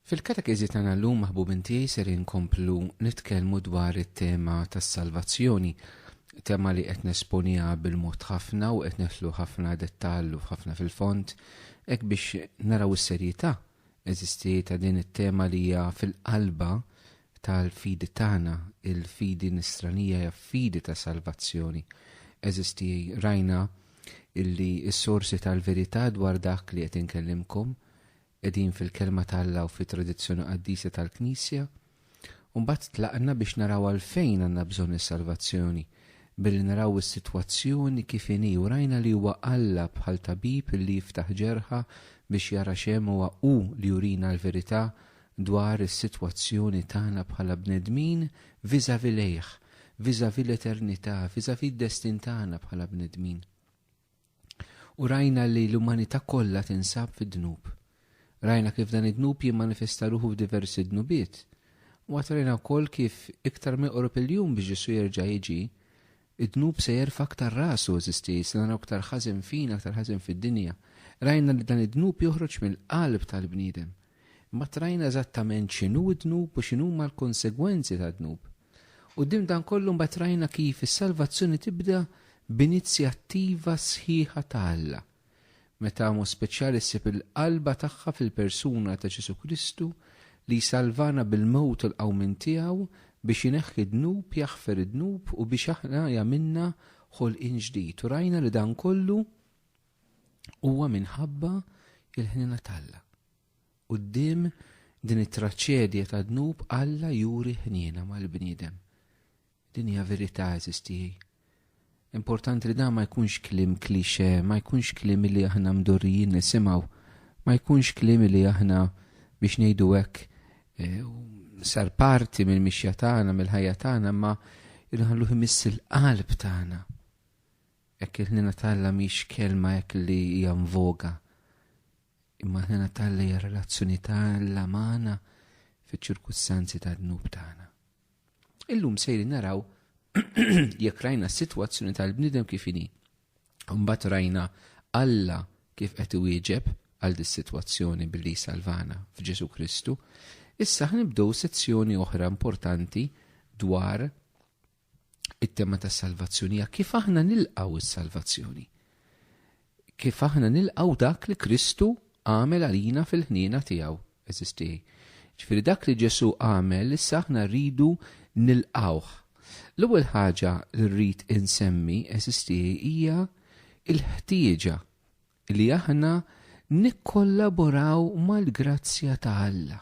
Fil-katekiżi tagħna llum maħbubin tiegħi ser inkomplu nitkellmu dwar it-tema tas-salvazzjoni, tema li qed nesponiha bil-mod ħafna u qed neħlu ħafna dettallu ħafna fil-font, hekk biex naraw is-serjetà eżisti ta' din it-tema li hija fil-qalba tal-fidi tagħna, il-fidi nisranija hija fidi ta' salvazzjoni. Eżisti rajna illi s-sorsi tal-verità dwar dak li qed inkellimkom qegħdin fil-Kelma ta' Alla u fit-tradizzjoni qaddisa tal-Knisja. U mbagħad tlaqna biex naraw għalfejn għandna bżonn is-salvazzjoni billi naraw is-sitwazzjoni kif inhi u rajna li huwa Alla bħal tabib illi jiftaħ ġerħa biex jara x'hemm huwa hu li jurina l-verità dwar is-sitwazzjoni tagħna bħala bnedmin vis-à-vis lejh, vis-à-vis l-eternità, vis-à-vis d-destin tagħna bħala bnedmin. U rajna li l-umanità kollha tinsab fid-dnub. Rajna kif dan id-dnub jimmanifesta ruħu f'diversi dnubiet. U għatrejna wkoll kif iktar meqrub il-jum biex Ġesu jerġa' jiġi, Id-dnub se jerfa' aktar rasu, eżisti, se naraw aktar ħażen fina, aktar ħażen fid-dinja. Rajna li dan id-dnub joħroġ mill-qalb tal-bniedem. Imbagħad rajna eżattament x'inhu d-dnub u x'inhuma l-konsegwenzi tad-dnub. Quddiem dan kollu mbagħad rajna kif is-salvazzjoni tibda b'inizjattiva sħiħa ta' Alla. Meta b'mod speċjali ssib il-qalba tagħha fil-persuna ta' Ġesù Kristu li jsalvana bil-mewt u l-qawmien tiegħu biex ineħħi d-dnub, jaħfer id-dnub u biex aħna jagħmilna ħolqien ġdid. U rajna li dan kollu huwa minħabba il-ħniena t'Alla. Quddiem din it-traċedja tad-dnub Alla juri ħniena mal-bniedem. Din hija verità eżis tiegħi. Importanti li dan ma jkunx kliem klixe, ma jkunx kliem li aħna mdorrijin nisimgħu, ma jkunx kliem li aħna biex ngħidu hekk eh, sar parti mill-mixja tagħna, mill-ħajja tagħna, ma jilħallu jmiss il-qalb tagħna. Hekk il-ħnina talla mhix kelma hekk li hija mvoga. Imma ħnina talla hija relazzjoni talla magħna fiċ-ċirkustanzi tad-dnub tagħna. Illum sejrin naraw jekk rajna s-sitwazzjoni tal-bniedem kif inhi. Mbagħad rajna Alla kif qed iwieġeb għal dis-sitwazzjoni billi jsalvana f'Ġesu Kristu, issa ħnibdew sezzjoni oħra importanti dwar it-tema tas-salvazzjoni hija kif aħna nilqgħu s-salvazzjoni. Kif aħna nilqgħu dak li Kristu għamel għalina fil-ħniena tiegħu, għeżież tiegħi. Jiġifieri dak li Ġesù għamel issa aħna rridu nilqgħuh. L-ewwel ħaġa li rrid insemmi, għeżież tiegħi, hija l-ħtieġa li aħna nikkollaboraw mal-grazzja ta' Alla.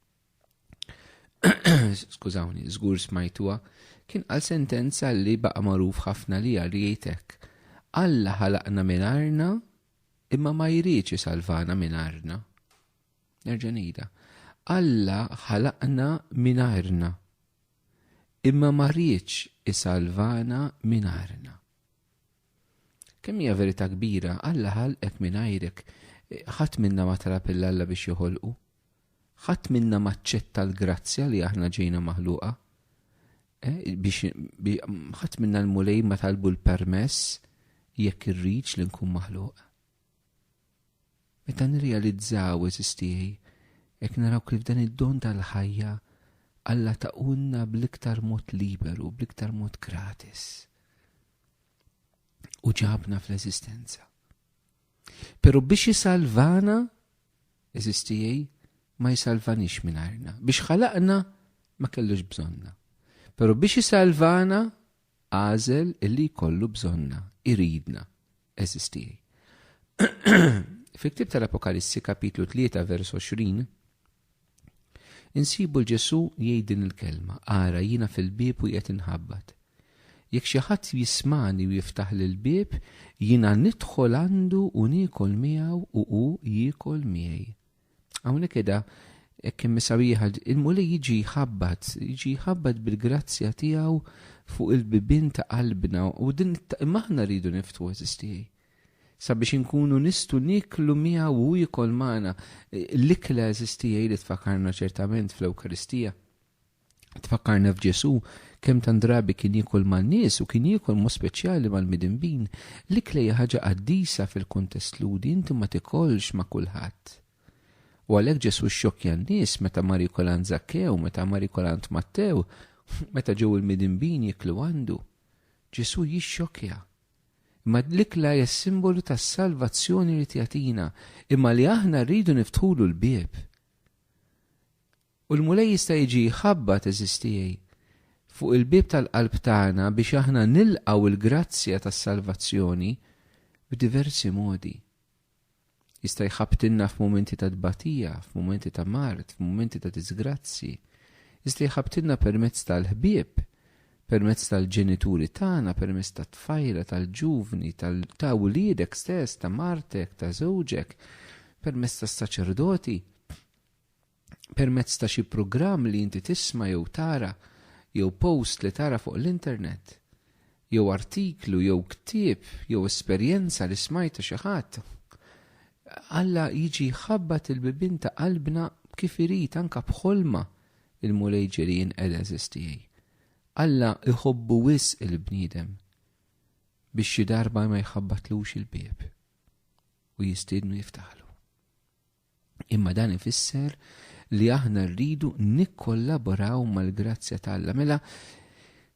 skużawni, żgur smajtuha, kien għal sentenza li baqa' magħruf ħafna li għal jgħidek. Alla ħalaqna minn arna imma ma jridx isalvana minn arna. Nerġa' ngħidha. Alla ħalaqna minn arna imma ma rridx isalvana minn arna. Kemm hija verità kbira, Alla ħalqek mingħajrek. Ħadd minna ma talab lil Alla biex joħolqu. Ħadd minna ma aċċetta l-grazzja li aħna ġejna maħluqa. Eh, biex ħadd minna l-mulej ma talbu l-permess jekk irridx li nkun maħluq. Meta nirrealizzaw eżistijaj, jekk naraw kif dan id-don tal-ħajja Alla taqunna bl-iktar mod liberu, bl-iktar mod gratis. u ġabna fl-eżistenza. Pero biex jisalvana, eżistijaj, ma jisalvanix minarna. Biex ħalaqna, ma kellux bżonna. Pero biex jisalvana, għazel illi kollu bżonna, iridna, eżistijaj. Fil-ktib tal-Apokalissi kapitlu 3 vers 20, Insibu 'l Ġesù jgħid din il-kelma, Ara, jiena fil-bieb u qiegħed inħabbat. Jekk xi ħadd jismagħni u jiftaħli l-bieb, jiena nidħol għandu u niekol miegħu u hu jiekol miegħi. Hawnhekk qiegħda hekk kemm isawieħa, il-Mulej jiġi jħabbat, jiġi jħabbat bil-grazzja tiegħu fuq il-bibien ta' qalbna u din maħna rridu niftu eżistijaj. sabiex inkunu nistgħu nieklu miegħu u hu jikol magħna, l-ikla għeżież tiegħi li tfakkarna ċertament fl-Ewkaristija, tfakkarna f'Ġesù, kemm tant drabi kien jiekol man-nies u kien jiekol b'mod speċjali mal-midinbin. L-ikla hija ħaġa qaddisa fil-kuntest Lhudi, inti ma tikolx ma' kulħadd. U għalhekk Ġesù xxokkja n-nies meta mar jikol għand Zakkew, meta mar jikol għand Mattew, meta ġew il-midinbin jiklu għandu. Ġesù jixxokkja, Imma l-ikla hija s-simbolu tas-salvazzjoni li tjagħtina, imma li aħna rridu niftħulu l-bieb. U l-Mulej jista' jiġi jħabbat, eżiż tiegħi, fuq il-bieb tal-qalb tagħna biex aħna nilqgħu l-grazzja tas-salvazzjoni b'diversi modi. Jista' jħabbtilna f'mumenti ta' tbatija, f'mumenti ta' mard, f'mumenti ta' diżgrazzji. Jista' jħabbtilna permezz tal-ħbieb, permezz tal-ġenituri tagħna, permezz tat-tfajla, tal-ġuvni, ta' wliedek stess, ta' martek, ta' żewġek, permezz tas-saċerdoti. permezz ta' xi programm li inti tisma' jew tara jew post li tara fuq l-internet jew artiklu jew ktieb jew esperjenza li smajta xi ħadd. Alla jiġi jħabbat il-bibien ta' qalbna kif irid anke b'ħolma il-Mulej ġieli jinqed għeżież tiegħi. Alla jħobbu wisq il-bniedem biex xi darba ma jħabbatlux il-bieb u jistiednu jiftaħlu. Imma dan ifisser li aħna rridu nikkollaboraw mal-grazzja ta' Alla. Mela,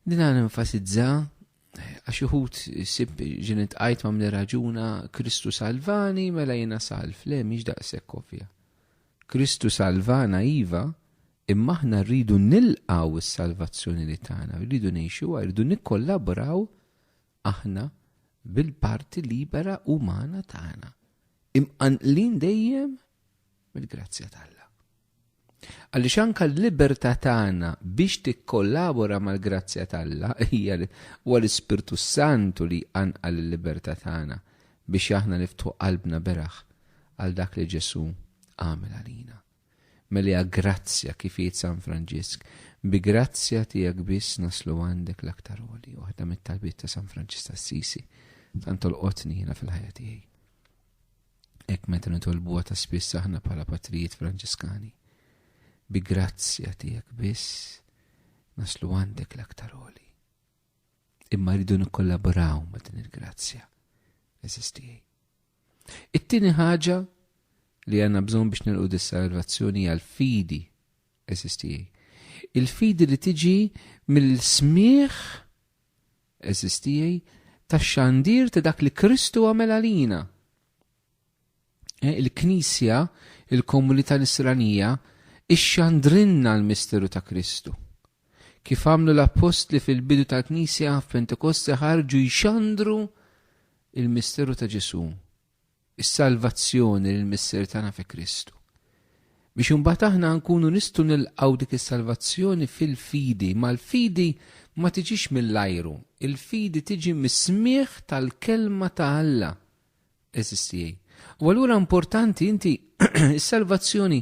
din għan enfasizza għax uħut sib ġenet għajt ma' mle raġuna Kristu salvani mela jena salv, le miex daqsek kovja. Kristu salvana iva, imma aħna rridu nilqaw is-salvazzjoni li tagħna, rridu ngħixuha, rridu nikkollaboraw Aħna, bil-parti libera umana tagħna, imqanqlin dejjem mill-grazzja t'Alla. Għaliex anka l-libertà tagħna biex tikkollabora mal-grazzja t'Alla hija huwa l-Ispirtu Santu li jqanqal il-libertà tagħna biex aħna niftħu qalbna beraħ għal dak li Ġesu għamel għalina. Meliha grazzja kif jgħid San Franġisk, bi grazzja tiegħek biss naslu għandek l-aktar għoli, waħda mit-talbiet ta' San Franġisk t'Assisi, tant tolqotni jiena fil-ħajja tiegħi. Hekk meta nitolbuha ta' spiss aħna bħala patrijiet Franġiskani. Bi grazzja tiegħek biss naslu għandek l-aktar għoli. Imma rridu nikkollaboraw ma' din il-grazzja. Eżistijaj. It-tieni ħaġa li għandna bżonn biex nilqu dis-salvazzjoni hija l-fidi. Eżistijaj. Il-fidi li tiġi mill-smieħ eżistijaj tax-xandir ta' dak li Kristu għamel għalina. Eh, Il-Knisja, il-komunità nisranija, ixxandrinna l-misteru ta' Kristu. Kif għamlu l-appostli fil-bidu tal-Knisja f'Pentekoste ħarġu jxandru il-misteru ta' Ġesu, is-salvazzjoni l mister tagħna fi Kristu. Biex imbagħad aħna nkunu nistgħu nilqgħu dik is-salvazzjoni fil-fidi, mal-fidi ma tiġix mill-ajru, il-fidi tiġi mis-smieħ tal-kelma ta' Alla Eżis tiegħi. U allura importanti inti s-salvazzjoni.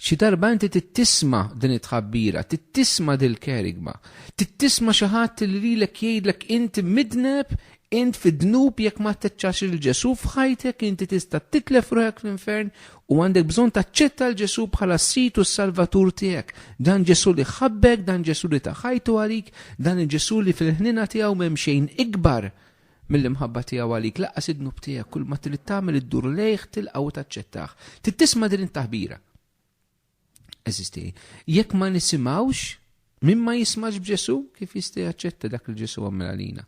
Xi darba inti tittisma din it-tħabbira, tittisma dil kerigma, tittisma xi ħadd li lilek jgħidlek inti midneb, int fid-dnub jekk ma teċċax il-Ġesu f'ħajtek inti tista' titlef ruħek fl-infern u għandek bżonn taċċetta l-Ġesu bħala s-sid u s-salvatur tiegħek. Dan Ġesu li ħabbek, dan Ġesu li ta' ħajtu għalik, dan il-Ġesu li fil-ħnina tiegħu m'hemm xejn ikbar Mill-imħabba tiegħu għalik, laqqas id-dnub tiegħek, kulma trid tagħmel iddur lejh, tilqgħu u taċċettah. Trid tisma' din it-taħbira. Eżiż tiegħi, jekk ma nisimgħux, min ma jismax b'Ġesu, kif jista' jaċċetta dak li Ġesu għamel għalina?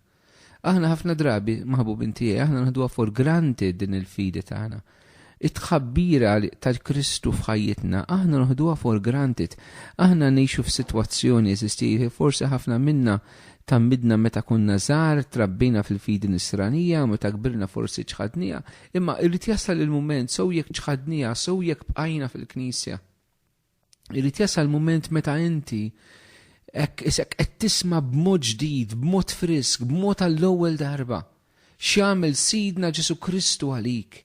Aħna ħafna drabi, maħbubin tiegħi, aħna naħduha for granted din il-fidi tagħna. Ta It-tħabbira ta' Kristu f'ħajjitna aħna noħduha for granted. Aħna ngħixu f'sitwazzjoni, għeżież tiegħi, forsi ħafna minna tgħammidna meta konna żgħar, trabbejna fil-fidi nisranija, u meta kbirna forsi ċħadniha, imma jrid jasal il-mument, sew jekk ċħadniha, sew jekk bqajna fil-Knisja. Irid jasal mument meta inti hekk isek qed tisma' b'mod ġdid, b'mod frisk, b'mod għall-ewwel darba x'jagħmel Sidna Ġesu Kristu għalik.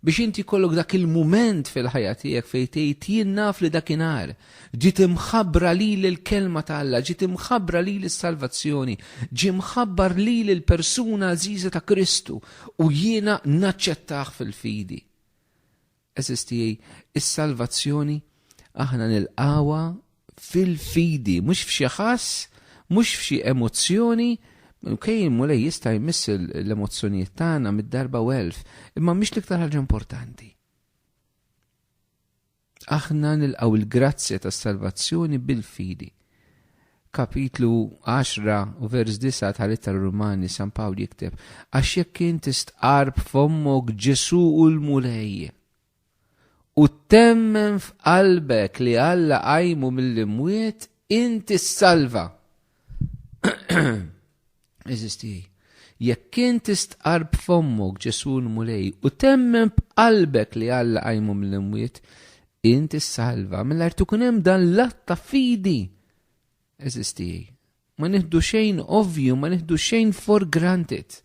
Biex inti kollok dak il-mument fil-ħajja tiegħek fejn tgħid jien naf li dakinhar ġiet imħabbra lili l-kelma ta' Alla, ġiet imħabbra lili s-salvazzjoni, ġie mħabbar lili l-persuna għażiża ta' Kristu u jiena naċċettah fil-fidi. Għeżież tiegħi, is-salvazzjoni aħna nilqgħuha fil-fidi, mhux f'xi ħass, mhux f'xi emozzjoni, Kej il-mulej jista' jmiss l-emozzjonijiet tagħna mid-darba u elf, imma mhix l-iktar ħaġa importanti. Aħna nilqgħu l-grazzja tas-salvazzjoni bil-fidi. Kapitlu 10 u vers 9 tal-Ittra Rumani San Pawl jikteb, Għax jekk int istqarr b'fommok Ġesù hu l-Mulej, u temmen f'qalbek li Alla qajmu mill-imwiet, int issalva. Eżis tiegħi, jekk int istqarr b'fommok Ġesù l-Mulej u temmen b'qalbek li Alla qajmu mill-imwiet, int issalva mingħajr tkun hemm dan l-att ta' fidi. Eżis tiegħi, ma nieħdu xejn ovvju, ma nieħdu xejn for granted.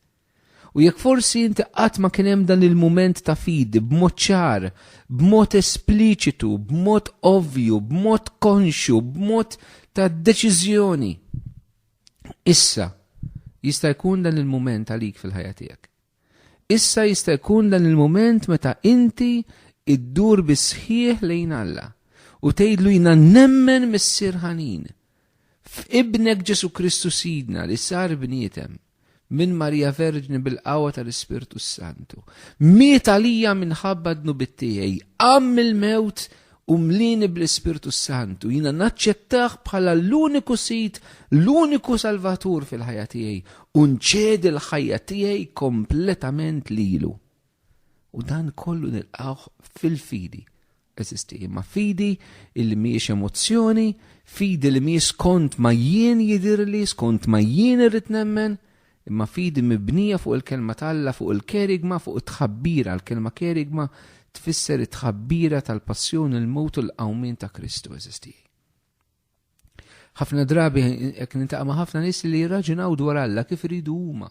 U jekk forsi inti qatt ma kien hemm dan il-mument ta' fidi b'mod ċar, b'mod espliċitu, b'mod ovvju, b'mod konxju, b'mod ta' deċiżjoni. Issa jista' jkun dan il-mument għalik fil-ħajja tiegħek. Issa jista' jkun dan il-mument meta inti iddur bis-sħiħ lejn Alla u tgħidlu jiena nemmen Missier ħanin f'Ibnek Ġesu Kristu Sidna li sar bniedem minn Marija Verġni bil-qawwa tal-Ispirtu s-Santu. Miet għalija minħabba d-dnubit tiegħi, qam mill-mewt u mlini bl-Ispirtu s-Santu. Jiena naċċettah bħala l-uniku sid, l-uniku salvatur fil-ħajja tiegħi u nċedi l-ħajja tiegħi kompletament lilu. U dan kollu nilqgħuh fil-fidi eżisti, imma fidi illi mhijiex emozzjoni, fidi li mhijiex skont ma jien jidirli, skont ma jien irrid nemmen, imma fidi mibnija fuq il-kelma ta' Alla, fuq il-kerigma, fuq it-tħabbira, l-kelma kerigma tfisser it-tħabbira tal-passjoni, il-mewt u l-qawmien ta' Kristu, eżisti. Ħafna drabi jekk nintaqa' ma' ħafna nies li jirraġunaw dwar Alla kif iridu huma.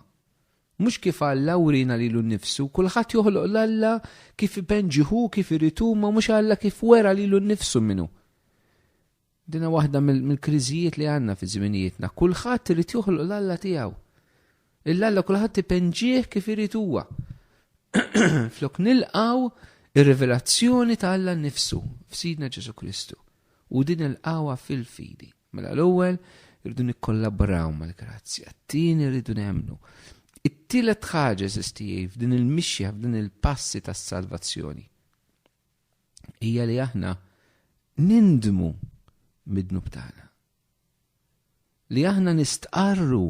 Mhux kif Alla wrina lilu nnifsu, kulħadd joħloq l-Alla kif ipenġi hu kif irid hu ma mhux Alla kif wera lilu nnifsu min hu. Dina waħda mill-kriżijiet li għandna fi żminijietna, kulħadd irid joħloq l-Alla tiegħu. Illa alla kulħadd ipenġih kif irid huwa. Flok nilqaw ir-rivelazzjoni ta' Alla nnifsu f'Sidna Ġesu Kristu u din il-qawa fil-fidi. Mela l-ewwel irridu nikkollaboraw mal-grazzja, t-tieni rridu nemmnu. It-tielet ħaġa żistijej f'din il-mixja f'din il-passi tas-salvazzjoni hija li aħna nindmu mid-dnub tagħna. li aħna nistqarru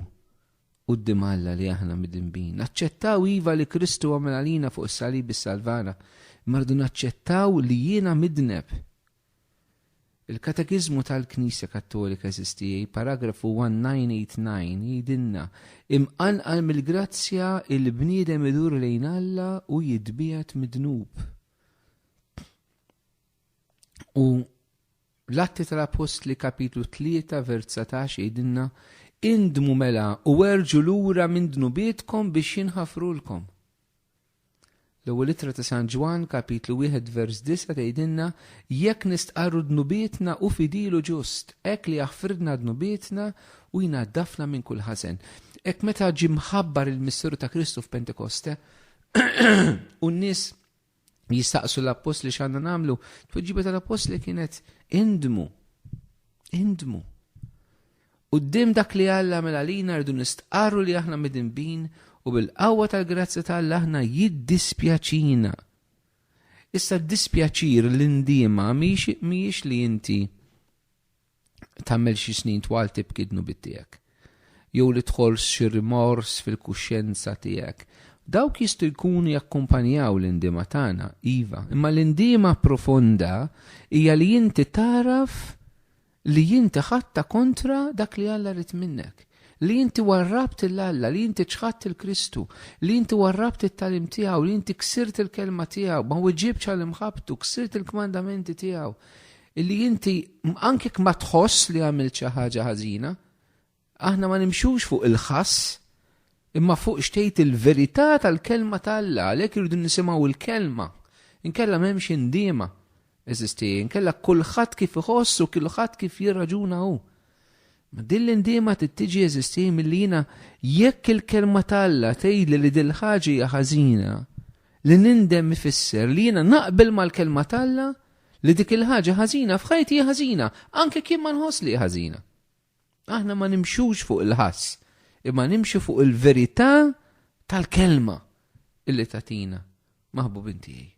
quddiem Alla li aħna midinbin. Naċċettaw iva li Kristu għamel għalina fuq is-salib is-salvana, imma rridu naċċettaw li jiena midneb. Il-Katekiżmu tal-Knisja Kattolika eżistijaj, paragrafu 1989, jidinna imqanqal mill-grazzja il-bniedem idur lejn Alla u jitbiegħed midnub. U l-Atti tal-Appostli kapitlu 3 vers 19 jgħidilna indmu mela u erġu lura minn dnubietkom biex jinħafrulkom. L-ewwel ittra ta' San Ġwan kapitlu 1 vers 9 tgħidilna jekk nistqarru dnubietna u fidilu ġust, hekk li jaħfridna dnubietna u jnaddafna minn kull ħażen. Hekk meta ġie mħabbar il-misteru ta' Kristu f'Pentekoste u n-nies jistaqsu l-appostli x'għandna nagħmlu, tweġiba tal-appostli kienet indmu. Indmu. U d-dim dak li Alla mela lina rridu nistqarru li aħna midinbin u bil-qawwa tal-grazzja ta' Alla aħna jiddispjaċina. Issa d-dispjaċir l-indima miex li inti tagħmel xi snin twal tibki d-dnubiet tiegħek, jew li tħoss xi rimors fil-kuxjenza tiegħek. Dawk jistgħu jkunu jakkumpanjaw l-indiema tagħna, iva, imma l-indiema profonda hija li inti tagħraf li inti ħadtha kontra dak li Alla ried minnek, li inti warrabt il Alla, li inti ċħadt il-Kristu, li inti warrabt it-talim tiegħu, li inti ksirt il-kelma tiegħu, ma weġibx għal imħabbtu, ksirt il-kmandamenti tiegħu. Illi inti, anke jekk ma tħoss li għamilt xi ħaġa ħażina, aħna ma nimxux fuq il-ħass, imma fuq xtejt il-verità tal-kelma ta' Alla, għalhekk irridu nisimgħu l-kelma. Inkella m'hemmx indiema, eżisti, inkella kulħadd kif iħoss u kulħadd kif jirraġuna hu. Ma din l-indiema tittiġi eżisti milli jiena jekk il-kelma ta' Alla tgħidli li dil ħaġa hija ħażina, li nindem ifisser li jiena naqbel mal-kelma ta' Alla, li dik il-ħaġa ħażina f'ħajti hi ħażina, anke jekk jien ma nħoss li hi ħażina. Aħna ma nimxux fuq il-ħass, imma nimxu fuq il-verità tal-kelma illi tatina maħbubin tiegħi.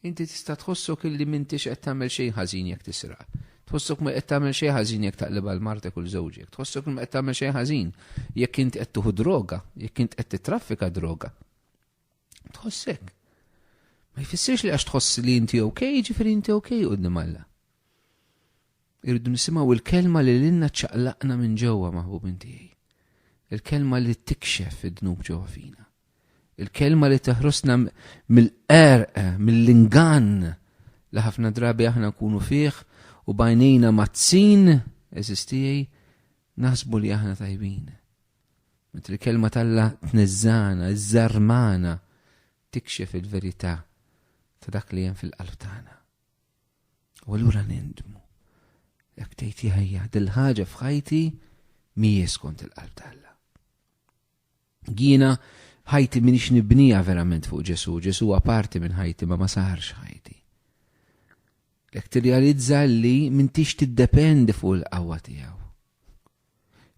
Inti tista' tħossok illi m'intix qed tagħmel xejn ħażin jekk tisraq. Tħossok ma qed tagħmel xejn ħażin jekk taqlibha l martek u żewġek. Tħossok ma qed tagħmel xejn ħażin jekk int qed tuħu droga, jekk int qed titraffika droga. Tħossek. Ma jfissirx li għax tħoss li inti ok, ġifiri inti ok qudiem Alla. Irridu nisimgħu il-kelma li l-inna ċaqlaqna minn ġewwa maħbub inti. Il-kelma li tikxef id-dnub ġewwa fina. Il-kelma li teħrosna mill-qerq, mill-ingann li ħafna drabi aħna nkunu fih u bajnejna mazzin, eżistijaj, naħsbu li aħna tajbin. Meta l-kelma talla tniżżana, iżżarmana, tikxef il-verità ta' dak li hemm fil-qalb tagħna. U allura nindmu. Jekk tgħid jahja, dil-ħaġa f'ħajti mhijiex skont il-qalb talla. Jiena ħajti minix nibnija verament fuq Ġesu, Ġesu parti minn ħajti ma ma saħarx ħajti. Jekk tirrealizza li mintix tiddependi fuq il-qawwa tiegħu.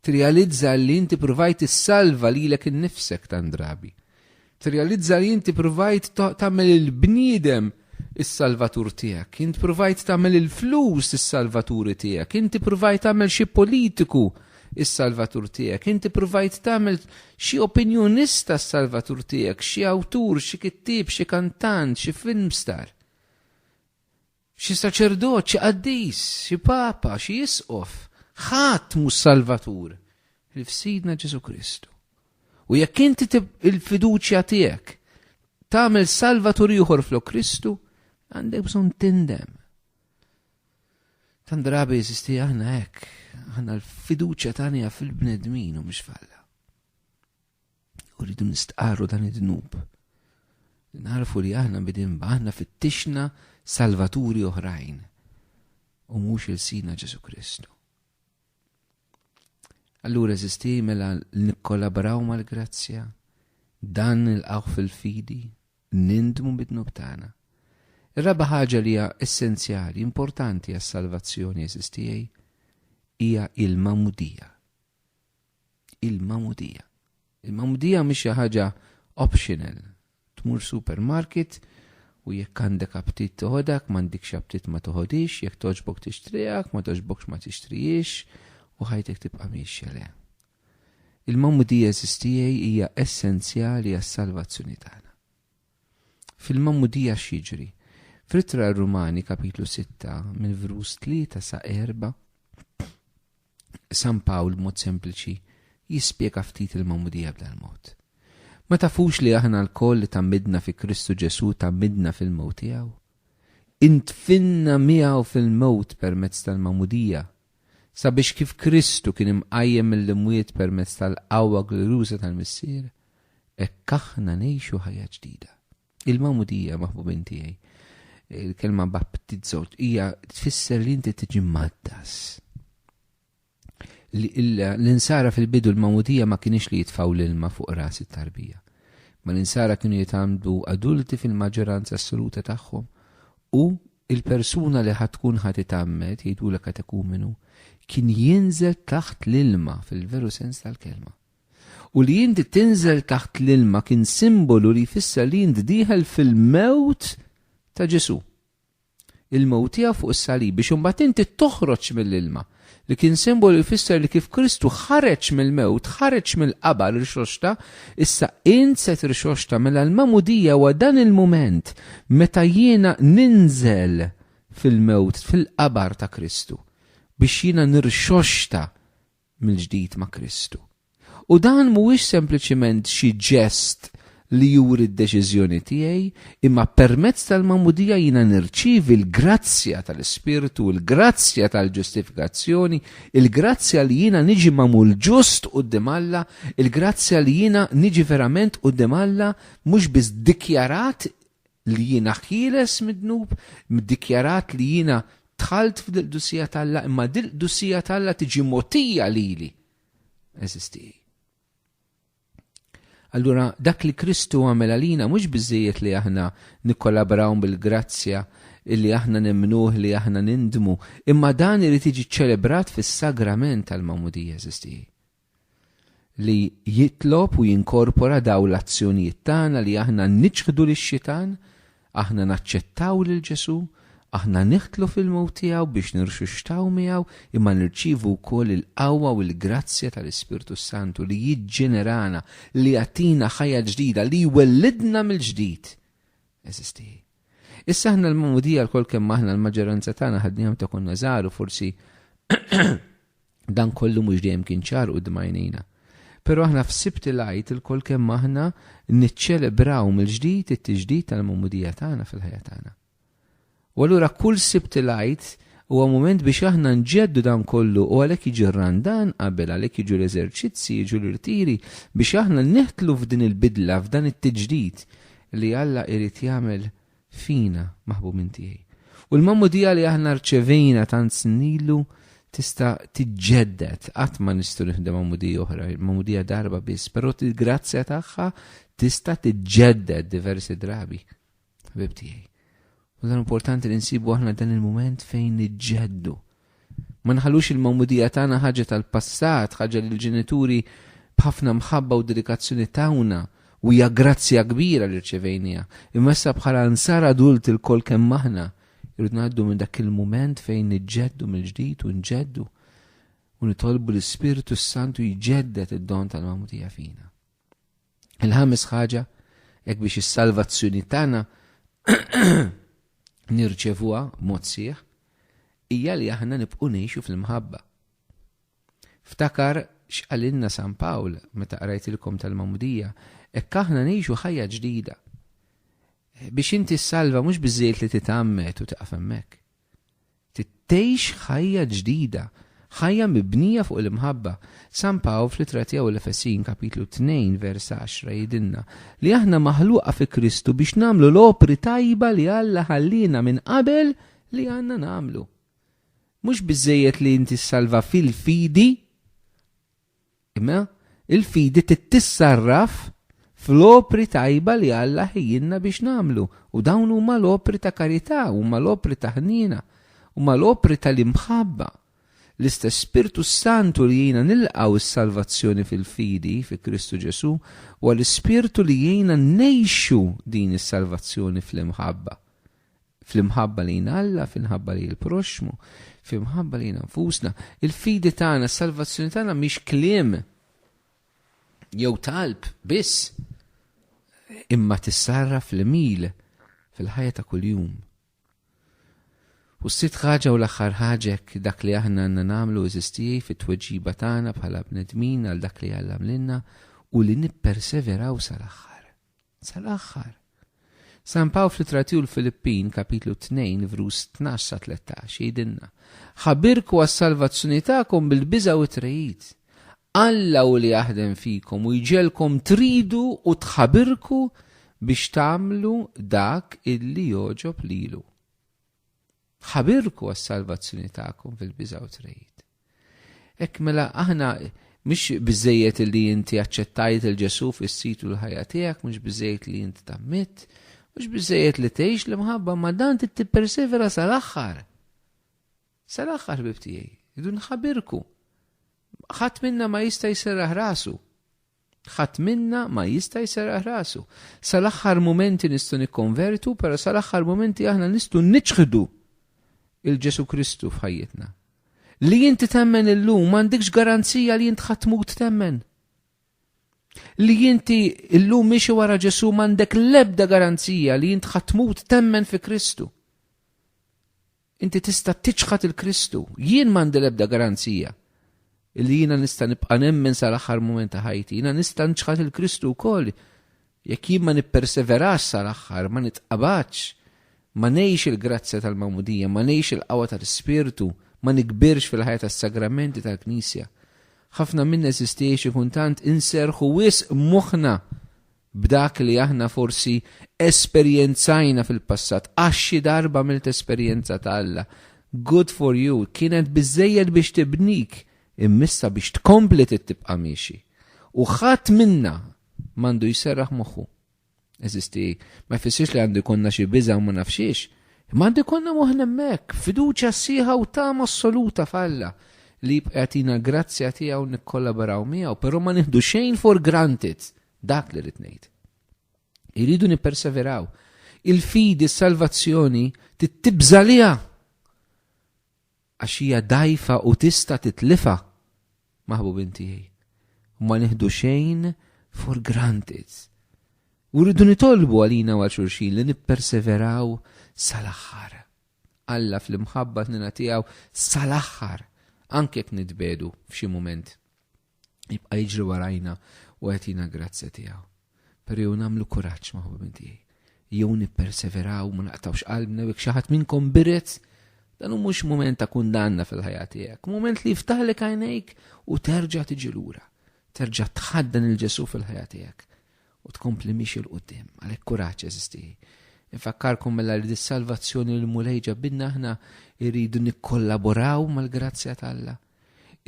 Tirrealizza li inti ppruvajt issalva lilek innifsek tant drabi. Tirrealizza li inti ppruvajt tagħmel il-bniedem is-salvatur tiegħek. Int ppruvajt tagħmel il-flus is-salvaturi tiegħek. Inti ppruvajt tagħmel xi politiku is-salvatur tiegħek. Inti ppruvajt tagħmel xi opinjonista s-salvatur tiegħek, xi awtur, xi kittieb, xi kantant, xi film star. Xi saċerdot, xi qaddis, xi papa, xi isqof, ħadd mhux salvatur ħlief Sidna Ġesù Kristu. U jekk inti il-fiduċja tiegħek tagħmel salvatur ieħor flok Kristu, għandek bżonn tindem. Tan drabi jeżisti aħna hekk, aħna l-fiduċja tagħna fil-bnedmin u mhux falla. U rridu nistqarru dan id-dnub. Narfu li aħna bidin aħna fittixna salvaturi oħrajn u mhux il-sina Ġesu Kristu. Allura eżisti mela nikkollaboraw mal-grazzja, dan il-qawħ fil-fidi, nindmu bidnu btana. Ir-raba ħaġa li hija essenzjali, importanti għas-salvazzjoni eżistijaj, hija il-mamudija. il-magħmudija. Il-magħmudija mhix xi ħaġa optional. Tmur supermarket u jekk għandek aptit toħodak, m'għandikx aptit ma toħodix, jekk toġbok tixtrijak, ma toġbokx ma tixtrijiex u ħajtek tibqa' miexja le. Il-magħmudija eżistijej hija essenzjali għas-salvazzjoni tagħna. Fil-magħmudija x'jiġri? Fritra Rumani kapitlu 6 mill-vrus 3 sa 4 San Pawl b'mod sempliċi jispjega ftit il-magħmudija b'dal mod. Ma tafux li aħna lkoll li tgħammidna fi Kristu Ġesù tgħammidna fil-mewt tiegħu? Intfinna miegħu fil-mewt permezz tal-magħmudija, sabiex kif Kristu kien imqajjem mill-imwiet permezz tal-qawwa glorjuża tal-Missier, hekk aħna ngħixu ħajja ġdida. Il-Magħmudija maħbubin tiegħi, il-kelma baptizzo hija tfisser li inti tiġi maddas. L-insara fil-bidu l-Magħmudija ma kienx li jitfaw l-ilma fuq ras it-tarbija. Ma l-insara kienu jitgħamdu adulti fil-maġġoranza assoluta tagħhom u il-persuna li ħad tkun ħad itammet jgħidu l katekumenu kien jinżel taħt l-ilma fil-veru sens tal-kelma. u li inti tinżel taħt l-ilma kien simbolu li jfisser li int dieħel fil-mewt ta' Ġesù. Il-mewt tiegħu fuq is-salib biex imbagħad inti toħroġ mill-ilma li kien simbolu jfisser li kif Kristu ħareġ mill-mewt, ħareġ mill-qabar rixoxta, issa int se trixoxta mela l-mamudija huwa dan il-mument meta jiena ninżel fil-mewt, fil-qabar ta' Kristu biex jiena nirxoxta mill-ġdid ma' Kristu. U dan mhuwiex sempliċiment xi ġest li juri d-deċiżjoni tiegħi, imma permezz tal-magħmudija jiena nirċievi l-grazzja tal-Ispirtu, il-grazzja tal-ġustifikazzjoni, il-grazzja li jiena niġi magħmul ġust quddiem Alla, il-grazzja li jiena niġi verament quddiem Alla mhux biss dikjarat li jiena ħieles mid-dnub, mdikjarat li jiena dħalt f'dil-qdusija t'Alla, imma dil-qdusija t'Alla tiġi mogħtija lili. Għeżież tiegħi. Allura dak li Kristu għamel għalina mhux biżejjed li aħna nikkollabraw bil-grazzja illi aħna nemnuh li aħna nindmu, imma dan irid jiġi ċċelebrat fis-sagrament tal-mamudija eżisti. li jitlob u jinkorpora dawn l-azzjonijiet tagħna li aħna niċħdu lix-xitan, aħna naċċettaw lil Ġesù, aħna niħtlu fil-mewt tiegħu biex nirxuxxtaw miegħu, imma nirċievu wkoll il-qawwa u l-grazzja tal-Ispirtu s-Santu li jiġġenerana, li jagħtina ħajja ġdida, li jwellidna mill-ġdid. Eżisti. Issa aħna l-magħmudija lkoll kemm aħna l-maġġoranza tagħna ħadniha meta konna żgħar u forsi Dan kollu mhux dejjem kien ċar quddiem għajnejna. Però aħna f'Sibt il-Għid ilkoll kemm aħna niċċelebraw mill-ġdid it-tiġdid tal-magħmudija tagħna fil-ħajja tagħna. U allura kull Sibt il-Għid huwa mument biex aħna nġeddu dan kollu u għalhekk jiġi r-randan qabel għalhekk jiġu l-eżerċizzi, jiġu l-irtiri biex aħna neħtlu f'din il-bidla, f'dan it-tiġdid li Alla irid jagħmel fina, maħbubin tiegħi. U l-magħmudija li aħna rċevejna tant snilu tista' tiġġedded qatt ma nistgħu nifdem magħmudija oħra, magħmudija darba biss, però il-grazzja tagħha tista' tiġġedded diversi drabi. Ħbib tiegħi. U dan importanti li nsibu aħna dan il-mument fejn niġġeddu. Ma nħallux il-magħmudija tagħna ħaġa tal-passat, ħaġa li l-ġenituri b'ħafna mħabba u dedikazzjoni tawna, u hija grazzja kbira li rċevejniha. Imma issa bħala ansar adulti lkoll kemm aħna, irridu ngħaddu minn dak il-mument fejn niġġeddu mill-ġdid u nġeddu u nitolbu l-Ispirtu s-Santu jġedded id-don tal-magħmudija fina. Il-ħames ħaġa, hekk biex is-salvazzjoni tagħna nirċevuha mod sieħ, hija li aħna nibqgħu ngħixu fl-imħabba. Ftakar x'qalinna San Pawl meta qrajtilkom tal-Mamudija, hekk aħna ngħixu ħajja ġdida. Biex inti salva mhux biżejjed li titgħammed u taqaf hemmhekk. Tgħix ħajja ġdida, ħajja mibnija fuq l-imħabba. San Pawl fl-Ittra tiegħu l-Efesin, kapitlu 2, vers 10, jgħidilna li aħna maħluqa fi Kristu biex nagħmlu l-opri tajba li Alla ħalliena minn qabel li għandna nagħmlu. Mhux biżżejjed li inti ssalva fil-fidi, Imma l-fidi trid tissarraf fl-opri tajba li Alla ħejjilna biex nagħmlu, u dawn huma l-opri ta' karità, huma l-opri ta' ħniena, huma l-opri tal-imħabba. L-istess Spirtu s-Santu li jgħinna nilqgħu s-salvazzjoni fil-fidi fi Kristu Ġesù huwa l-Ispirtu li jgħinna ngħixu din is-salvazzjoni fl-imħabba. fl-imħabba lejn Alla, fl-imħabba lejn il-proxxmu, fl-imħabba lejn nfusna. Il-fidi tagħna, s-salvazzjoni tagħna mhix kliem jew talb biss imma tissarra fl-mil fil-ħajja ta' kuljum. U s-sit ħaġa u l-axħar ħaġek dak li aħna għanna namlu eżistijaj fit tweġiba tagħna bħala bnedmin għal dak li għallam l-inna u li nipperseveraw sal-axħar. sal-aħħar. San Pawl fl-Ittra tiegħu l-Filippin, kapitlu 2, vrus 12 sa 13, jgħidilna, Ħabirku għas-salvazzjoni tagħkom bil-biża' u t-trejid. Alla u li jaħdem fikom u jġelkom tridu u tħabirku biex tagħmlu dak illi joġob lilu. Ħabirku għas-salvazzjoni tagħkom fil-biża' u trejid. Hekk mela aħna mhux biżejjed li inti aċċettajt il Ġesu fis-situ l-ħajja tiegħek, mhux biżejjed li inti tammit, mhux biżejjed li tgħix l-imħabba ma dan tippersevera sal-aħħar. Sal-aħħar bib tiegħi, idu nħabirku. Ħadd minna ma jista' jserraħ rasu. Ħadd minna ma jista' jserraħ rasu. Sal-aħħar mumenti nistgħu nikkonvertu, però sal-aħħar mumenti aħna nistgħu niċħdu lil Ġesù Kristu f'ħajjitna. Li inti temmen illum m'għandikx garanzija li int ħadd tmut temmen. Li inti illum miexi wara Ġesù m'għandek l-ebda garanzija li int ħadd tmut temmen fi Kristu. Inti tista' tiċħad 'il Kristu. Jien m'għandi l-ebda garanzija li jiena nista' nibqa' nemmen sal-aħħar mument ta' ħajti. Jiena nista' nċħad 'il Kristu wkoll jekk jien ma nipperseverax sal-aħħar, ma nitqabadx, ma ngħix il-grazzja tal-magħmudija, ma ngħix il-qawwa tal-Ispirtu, ma nikbirx fil-ħajja tas-sagramenti tal-Knisja. Ħafna minna eżistiex ikun tant inserrħu wisq moħħna b'dak li aħna forsi esperjenzajna fil-passat, għax xi darba għamilt esperjenza ta' Alla, good for you, kienet biżżejjed biex tibnik, imma issa biex tkompli trid tibqa' miexi. U ħadd minna m'għandu jserraħ moħħu. Eżisti, ma jfissirx li għandu jkollna xi biża' u ma nafx xiex, imma għandu jkollna moħħna hemmhekk, fiduċja sħiħa u tama assoluta f'Alla li jibqa' jagħtina l-grazzja tiegħu nikkollaboraw miegħu, però ma nieħdu xejn for granted Dak li rrid ngħid. Irridu nipperseveraw. Il-fidi, s-salvazzjoni, tittibża liha. Għax hija dajfa u tista' titlifa. Maħbub inti Ma nieħdu xejn for granted. U rridu nitolbu għalina għal xurxin li nipperseveraw sal-aħħar. Alla fl-imħabba t-nina tiegħu sal-aħħar anke jekk nitbedu f'xi mument. jibqa' jiġri warajna u jagħtina grazzja tiegħu. Però jew nagħmlu kuraġġ ma' ħubin tiegħi. Jew nipperseveraw ma naqtawx qalbna jekk xi ħadd minnkom biret dan hu mhux mument ta' kundanna fil-ħajja tiegħek, mument li jiftaħlek għajnejk u terġa' tiġi lura. Terġa' tħaddan il-Ġesu fil-ħajja tiegħek u tkompli miex il-qudiem, għalhekk kuraġġ eżistieħi. Infakkarkom mela li dis-salvazzjoni l-mulej ġabinna aħna irridu nikkollaboraw mal-grazzja tal-Alla.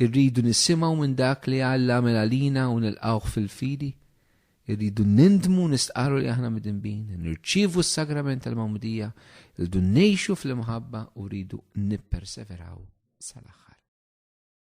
Irridu nisimgħu minn dak li Alla għamel għalina u nilqgħuh fil-fidi. Irridu nindmu u nistqarru li aħna midinbin, nirċievu s-sagrament tal-Magħmudija, irridu ngħixu fl-imħabba u rridu nipperseveraw sal-aħħar.